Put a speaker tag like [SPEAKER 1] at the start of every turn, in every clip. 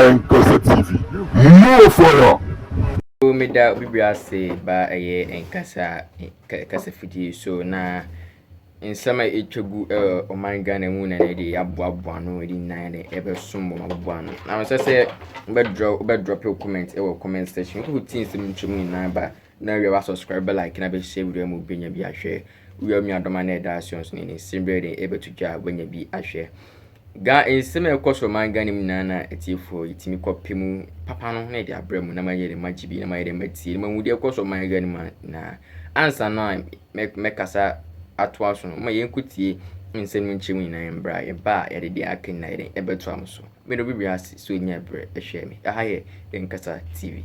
[SPEAKER 1] Nkasa TV more fire. Nso meda obi bere ase ba ɛyɛ nkasa kasafidie so na nsɛm a ɛtwa gu ɛwɔ ɔman ghana mu na na ɛde aboaboa ano ɛde nyinaa na ɛbɛsom bɔ maboboa ano na mesɛ sɛ wobɛdrɔpe wo comment ɛwɔ comment section wode wotie nsɛm ntwa mu nyinaa ba na awia wa subscribe bɛ like na bɛhyɛ video mu bɛnya bi ahwɛ wia nuadɔma na ɛda aseɛ nso ne ne nsɛm berɛ de ɛbɛto dwa wanya bi ahwɛ Ga, nsɛm a ɛkɔ soro aman Ghana mu nyinaa na atiefoɔ yi tumi kɔ pɛ mu papa no na ɛde abrɛ mu na ma yɛ dɛ ma gye bi na ma yɛ dɛ ma tie na ma hu deɛ ɛkɔ soro aman Ghana mu nyinaa ansa no a mɛkasa atoa so no ma yɛn kɔ tie nsɛm no nkyɛn mu nyinaa yɛn bra yɛ ba a yɛde deɛ aka nyinaa yɛ dɛ ɛbɛto am so mene obi wiase so nya brɛ ɛhwɛ me ɛha yɛ yɛn kasa TV.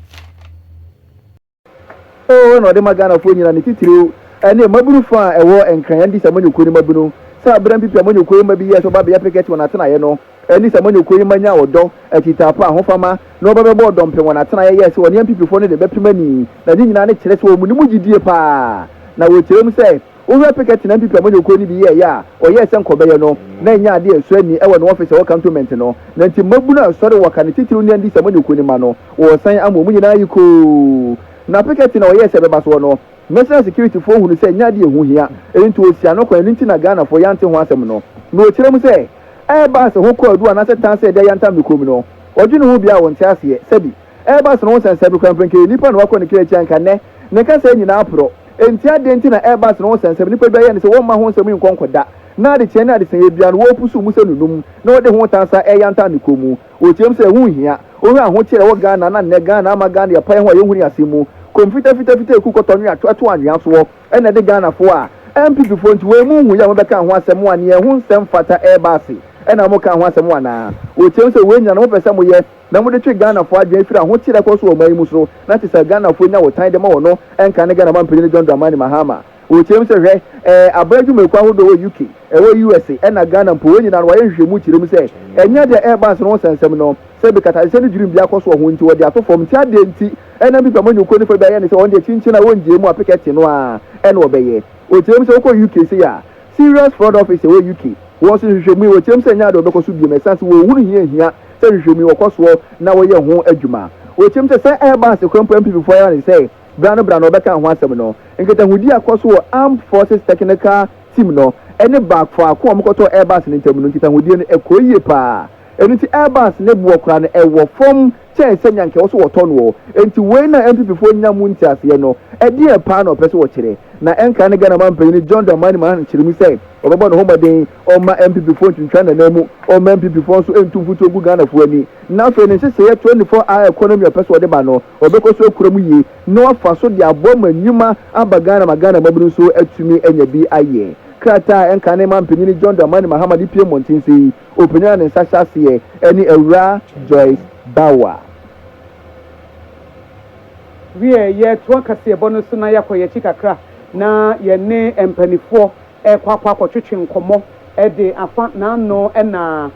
[SPEAKER 1] Oo na ɔde ma Ghanafoɔ nyina ne titiriw ne mmabunu fa a ɛwɔ Nkran Andis amanyɔkuo no mmabunu sɛ abere mpepe amanyɔkuo yi mma bi yɛɛ sɛ ɔba bɛyɛ pekɛte wɔn atenaeɛ no ne sɛ amanyɔkuo yi mma nya ɔdɔ, akyitaapo, ahofama na ɔba bɛbɔ ɔdɔmpem wɔn atenaeɛ yɛɛ sɛ ɔne ampipifoɔ no de bɛpem ani na ne nyinaa ne kyerɛ sɛ wɔn mu gyidie paa na wɔkyerɛ mu sɛ Owura Pickett na NPP amanyɔkuo no bi yɛɛ yɛ a ɔyɛɛ sɛ nka ɔbɛyɛ no na ɛnyɛ adeɛ a ɛsɔ ani ɛwɔ ne ɔfis ɛwɔ cantonment no na nti mmabunu a ɛsɔre wɔ ka ne titiriw ne NDC amanyɔkuo no mma no wɔresan ama wɔn nyinaa ayi koo na Pickett na ɔyɛɛ sɛ ɛbɛba soɔ no National Security foɔ hunu sɛ ɛnyɛ adeɛ a ɛho hia nti wɔsi ano kwan ɛno nti na Ghanafoɔ yɛante ho asɛm no na ɔkyerɛ mu sɛ ɛreba sɛ ho kɔ adu anaasɛ tan sɛ ɛde ayantam ne kurom no ɔdwene ho biara a ɔnte aseɛ sɛbi Airbus no ho sɛnsɛn me koraa, mprɛnka ɛyɛ nipa na wakɔ ne kra akyi anka nnɛ ne kasaa nyinaa aporɔ. Ɛnti adɛn nti na Airbus no ho sɛnsɛn me? Nipa bi ayɛ ne sɛ wɔmma ho nsɛm yi nkɔ nkɔ da, na adekyeɛ ne adesaeɛ biara no wɔrepusu mu sɛ nunum na wɔde ho tan san ɛreyantan ne kɔn mu. Wɔteam sɛ ɛho nhia, wohwɛ ahokyere a ɛwɔ Ghana na nnɛ Ghana ama Ghana yɛ paeɛ ho a yɛnhunu yɛn asɛm mu, kɔm fitafitafita ɛku kɔtɔ nwea ɛto anwea soɔ na ɛde Ghanafoɔ a NPP foɔ nti wei mo nhu yɛ a mobɛka ho asɛm mo anea ɛho nsɛm fata Airbus na moka ho asɛm anaa? Wɔteam sɛ wei nyinaa no mopɛ sɛ moyɛ na mode twe Ghanafoɔ adwene firi ahoteɛ a ɛkɔ so wɔ ɔman yi mu so, na kyerɛ sɛ Ghanafoɔ nya ɔtan de ma wɔn no, ɛnka ne Ghana manpanin no John Dramani Mahama. Wɔkyerɛ mu sɛ, Hwɛ, ɛɛ, aban adwumayɛkuo ahodoɔ wɔ UK, ɛwɔ USA, ɛna Ghana mpo, wɔn nyinaa no, wɔayɛ nhwehwɛmu kyerɛ mu sɛ, ɛnyɛ deɛ ɛreba ansa no ho nsɛnsɛm no, sɛ bi katahyehyɛ ne dwirim bi akɔ so wɔ ho nti wɔde ato fam, nti adeɛ nti ɛnam bi pɛ amanyɔkuo no fa bi ayɛ ne sɛ wɔn deɛ kyinkyin a wɔnngyeɛ mu a pekɛte no ara na wɔbɛyɛ. Wɔkyerɛ mu sɛ, wokɔ UK sei a, Serious Fraud Office ɛwɔ UK, wɔn nso nhwehwɛmu yi wɔkyerɛm sɛ ɛnyɛ ade a wɔbɛkɔ so biom ɛsan sɛ wɔhunu hia hia sɛ nhwehwɛmu yi wɔkɔ soɔ na wɔyɛ ho adwuma. Wɔkyerɛm sɛ sɛ ɛba asekorɔ mpo a MPP foɔ yɛ ara ne sɛ bra no bra no wɔbɛka ho asɛm no. Nkitahodi a ɛkɔ so wɔ Armed Forces Technical Team no ne ba faako a wɔkɔtɔɔ Airbus no ntam no nkitahodie no ɛkɔɔ yie paa ɛno nti Airbus ne boɔ koraa no ɛwɔ fam kyɛn sɛ nea anka ɛwɔ sɛ wɔtɔ no ɔ. Enti wei na NPPfoɔ nnya mu nteaseɛ no. Ɛdeɛn paa na wɔpɛ sɛ wɔkyerɛ? Na ɛnkae ne Ghana manpanin John Dramani Mahama hyɛɛ mu sɛ ɔbɛbɔ ne ho mmɔden ɔmma NPPfoɔ ntwintwa n'ananmu, ɔmma NPPfoɔ nso ntu mfuturo ngu Ghanafoɔ ani, na afei ne nhyehyɛeɛ 24 hour economy a ɔpɛ sɛ ɔde ba no, ɔbɛkɔ so akura mu yie na wafa so de aboa ma nnwuma aba Ghana ma Ghana mmabunu nso atumi anya bi ayɛ. Krataa a ɛnkae ne manpanin John Dramani Mahama de pue mmɔnten sɛ yi, Ɔpanyan ne nsa hyɛ aseɛ ɛne Awuraa Joyce Bawuah. Wiɛ, yɛ toa kaseɛbɔ no so na yɛ akɔ yɛ akyi kakra na yɛ ne mpaninfoɔ ɛkɔ akɔ akɔ twetwe nkɔmɔ ɛde afa n'ano ɛna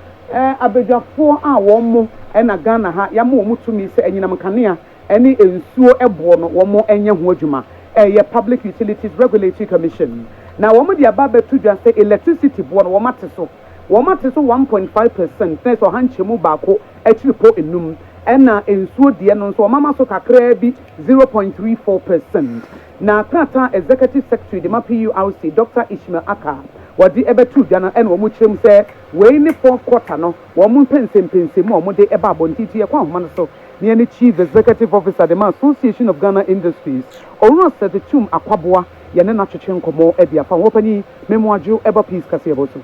[SPEAKER 1] abadwafoɔ a wɔn mo ɛna Ghana ha yɛ ama wɔn tumi sɛ anyinam nkanea ne nsuo boɔ no wɔn nyɛ ho adwuma, ɛyɛ Public Utilities Regulatory Commission na wɔn de aba abɛto dwa sɛ electricity boɔ no wɔn ate so, wɔn ate so one point five percent na ɛsɛ ɔha nkyɛmu baako akyirepɔ nnum, ɛna nsuo deɛ no nso wɔn ama so kakraa bi zero point three four percent. Na krataa a Executive Secretary de ma PURC, Doctor Ishmael Acca, wɔde ɛbɛtoo dwa no ɛna wɔn kyerɛ mu sɛ wei ne fourth quarter no wɔn mpɛnsɛmpɛnsɛmu a wɔde ba abɔnten nti yɛkɔ ahoma no so. ne ɛne Chief Executive Officer de ma Association of Ghana Industries, Owura Sir Tetum Akwaboa yɛ ne no atwetwe nkɔmmɔ de afa Hɔ Panin Memo Adjo ɛba Peace kaseɛbɔ so.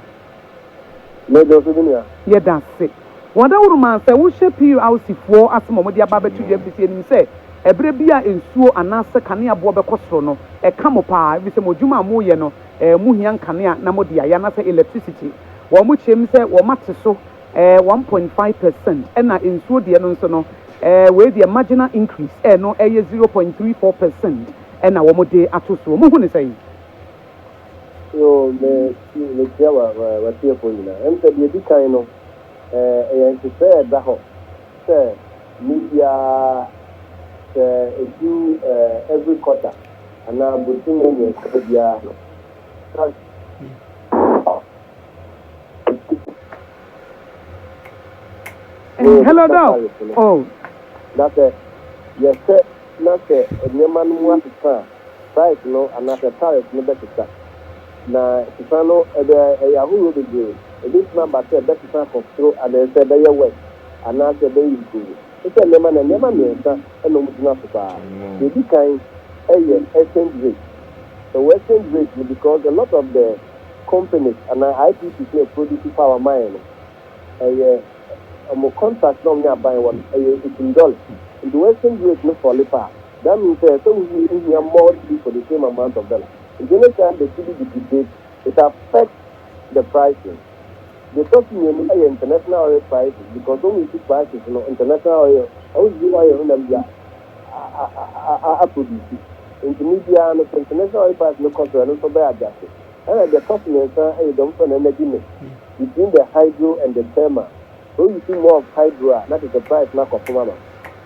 [SPEAKER 1] Yɛda ase me nua. Yɛda ase. Wɔ daworo mu ara sɛ wohyɛ PURC foɔ ase ma wɔde aba abɛto dwa ɛfiri sɛ yɛnim sɛ ɛberɛ bi a nsuo anaasɛ kanea boɔ bɛkɔ soro no ɛka mo pa ara ɛfiri sɛ mo adwuma a moreyɛ no eh mohia nkanea na mode ayɛ anaasɛ electricity. Wɔkyerɛm sɛ wɔate so eh, one point five per cent, ɛna nsuo deɛ no nso no, eh, wei deɛ marginal increase, eh, no ɛyɛ zero point three four per cent ɛna wɔn de ato soɔ. Mo hu ne sɛn? Yoo, me, mekyia wa, wa, w'atiefoɔ nyinaa. Ɛm sɛ deɛ ɛdi kan no, eh, ɛyɛ nhyehyɛɛ a ɛda hɔ sɛ me biara sɛ ɛdu eh, every quarter anaa bosome mmiɛnsa biara no, tax Hello, Doc. Oh. Na sɛ yɛhwɛ na sɛ nneɛma no mu asesa a, price no anaasɛ tariff no bɛsesa. Na sesa no, ɛbɛ, ɛyɛ ahorow bebree. Ebetumi aba sɛ ɛbɛsesa akɔ soro anaasɛ ɛbɛyɛ worse anaasɛ ɛbɛyɛ improve. Te sɛ nneɛma no a, nneɛma mmiɛnsa na wɔgyina so paa. Nea edi kan yɛ exchange rate. Ɛwɔ exchange rate no because a lot of the companies anaa IPPs na ɛproduce power ma yɛn no, ɛyɛ wɔn contract na wɔn ne aban wɔ no, ɛyɛ etum dɔle. Nti wo exchange rate no fɔle paa a, that means sɛ ɛsɛ wo use hia more cedi for the same amount of dollar. Nti any time the cedi depreciate, it affects the pricing. Deɛ ɛtɔ so mmienu ɛyɛ international oil prices because wɔn use prices no international oil, wɔn use oil no nam dwa. a-a-a-produce. Ntsi ber biara no continental oil price no kɔ sor, ɛno so bɛyɛ agyase. Nna deɛ ɛtɔ so miɛnsa yɛ deɛ wɔfrɛ no energy mix between the hydro and the thermal. Sɛ wo use more of hydro a, na kyerɛsɛ price no akɔ fom ama.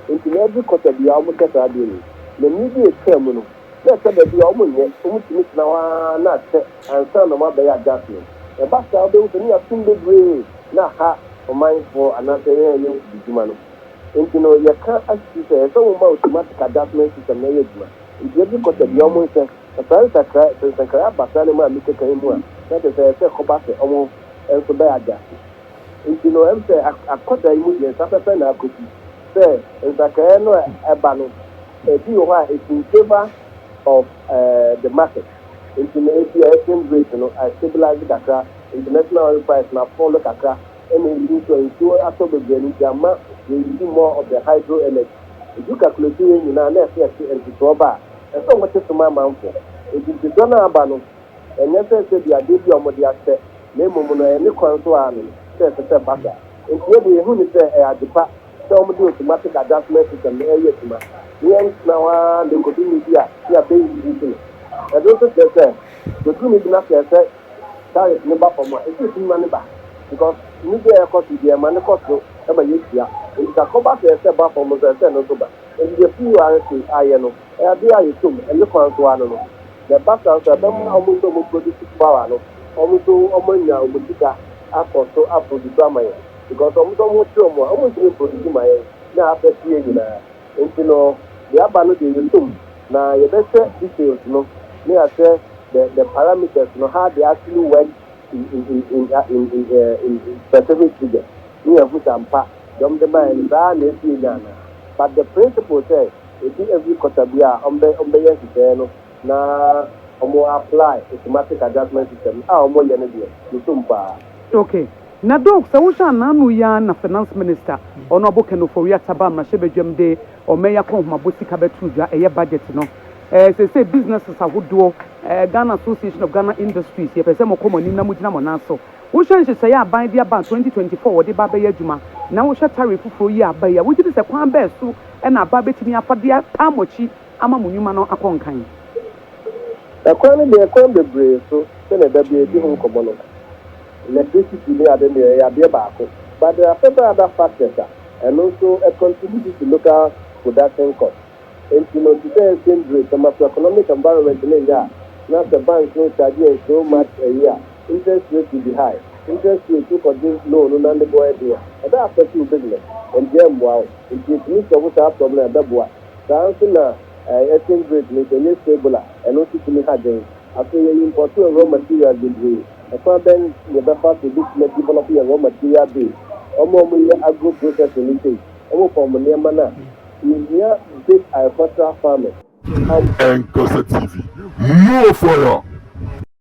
[SPEAKER 1] Ntsi na every quarter biara wɔhyɛ saa adeɛ wei. Na mber bi a etwaa mu no, na ɛtɔ da bi a wɔnnyɛ, wɔtumi tsena hɔ ara na akyɛ ansaana wɔabɛyɛ adjustment. Ɛba saa a, wobɛhu sɛ no yɛ asom bebree na aha ɔmanfoɔ anaasɛ hɛn ayɛnkubedwuma no. Enti no, yɛka akyiri sɛ ɛsɛ sɛ woma automatic adjustment system no yɛ adwuma. Enti ebi kɔ sɛ deɛ wɔnhyɛ na saa nsakrae, sɛ nsakrae aba saa nneɛma a mekeka yi mu a, na kyerɛ sɛ ɛsɛ sɛ ɛkɔba sɛ wɔn nso bɛ adjust. Enti no, ɛm sɛ akɔ saa yi mu deɛ nsa pɛpɛ na akɔsi sɛ nsakrae no a ɛba no, ebi wɔ hɔ a it's in favour of the market. Enti no, ebia exchange rate no a stabilise kakra, international oil price no a fall kakra. na ehu sɛ nsuo atɔ bebree no nti amma wɔnnyii more of the hydro energy. Ɛdu calculate wei nyinaa na ɛsɛ yɛte ntotoɔ ba a, ɛsɛ sɛ wɔte soma amanfoɔ. Enti ntotoɔ no a aba no, ɛnyɛ sɛ sɛbi adeɛ bi a wɔde ahyɛ na mmom no ɛyɛ ne kwan so ara no sɛ ɛsɛ sɛ ɛba saa. Enti yɛ deɛ yɛhu ne sɛ ɛyɛ adepa sɛ wɔde automatic adjustment system no ɛreyɛ adwuma na yɛntena hɔ ara na ɛkɔdu mmerɛ bi a na yɛabɛ increase no. Ɛno nso kyerɛ sɛ bɛduru mmerɛ bi na sɛ ɛsɛ Tariff no ba fam a, ɛsɛ sɛ yɛtumi ma no ba because nnidiɛ a ɛkɔ so yi deɛ ɛma no kɔ soro ma yɛtua. Nti sɛ akɔba sɛ ɛsɛ ba fam nso ɛsɛ sɛ ɛno nso ba. Nti deɛ PURSA ayɛ no, adeɛ a yɛtɔ mu, ɛno kwan so ara no no. Na ɛba saa nso a, ɛbɛma wɔn nso a wɔn produce power no, wɔn nso wɔn anya wɔn sika akɔ so a produce ama yɛn. Because wɔn nso wɔn ho kye wɔn a, wɔntumi mproduce mma yɛn na affect yɛn nyinaa. Nti no, deɛ aba no deɛ yɛtɔ mu. Na yɛbɛhwɛ details no na yɛahwɛ the the parameters no how they actually work in in in in uh, in in, uh, in specific figures na yɛahu sɛ ampa deɛ wɔn de baeɛ no saa na ɛsi enya anaa but the principle sɛ ebi every quarter bi a wɔn bɛ wɔn bɛyɛ nhyehyɛeɛ no na wɔn apply automatic adjustment system a wɔn yɛ no deɛ mesom paa. Okay. Na Doc, sɛ wohwɛ a n'ano yi ara na Finance Minister, Honourable Ken Ofori-Atta ba mmarahyɛbadwam de Wɔayi akɔnhomabɔ sika bɛtoo dwa, ɛyɛ budget no. Seesei businesses ahodoɔ, Ghana Association of Ghana Industries, yɛpɛ sɛ mokɔ mo anim na mogyina mo nan so. Wohwɛ nhyehyɛeɛ a aban de aba 2024 a wɔde ba abɛyɛ adwuma, na wohwɛ tariff foforɔ yi a aba yi a, wogye di sɛ kwan bɛn so na aban bɛtumi afa de ataa mo akyi ama mo nnwuma no akɔ nkan? Ɛkwan no deɛ, ɛkwan bebree so, sɛdeɛ da biara yɛdi ho nkɔmmɔ no. Electricity ne ade no deɛ, ɛyɛ adeɛ baako. But deɛ asɛ bɛyɛ ada factors a. Ɛno nso contribute to local production cost. Enti no te sɛ exchange rate no, macroeconomic environment no nyɛ a, na sɛ bank no charge yɛn so much ayi a, interest rate will be high. Interest rate, wo kɔgye loan no na ne bo yɛ den a, ɛbɛ affect wo business, enti ɛmmoa wo. Enti yɛtumi solve saa problem a, ɛbɛboa. Saa ara nso na exchange rate no, sɛ ɛnyɛ stable a, ɛno nso tumi hagye wo. Afei yɛ impɔtɔɔ raw materials bebree. Ɛkwan bɛn na yɛbɛfa so betumi adevelɔpo yɛn raw material base? Wɔn a wɔyɛ agro processing no sei, wɔpɔn wɔn nneɛma no a, yehia base agricultural farming. Nkɔsɛ TV, Move for your.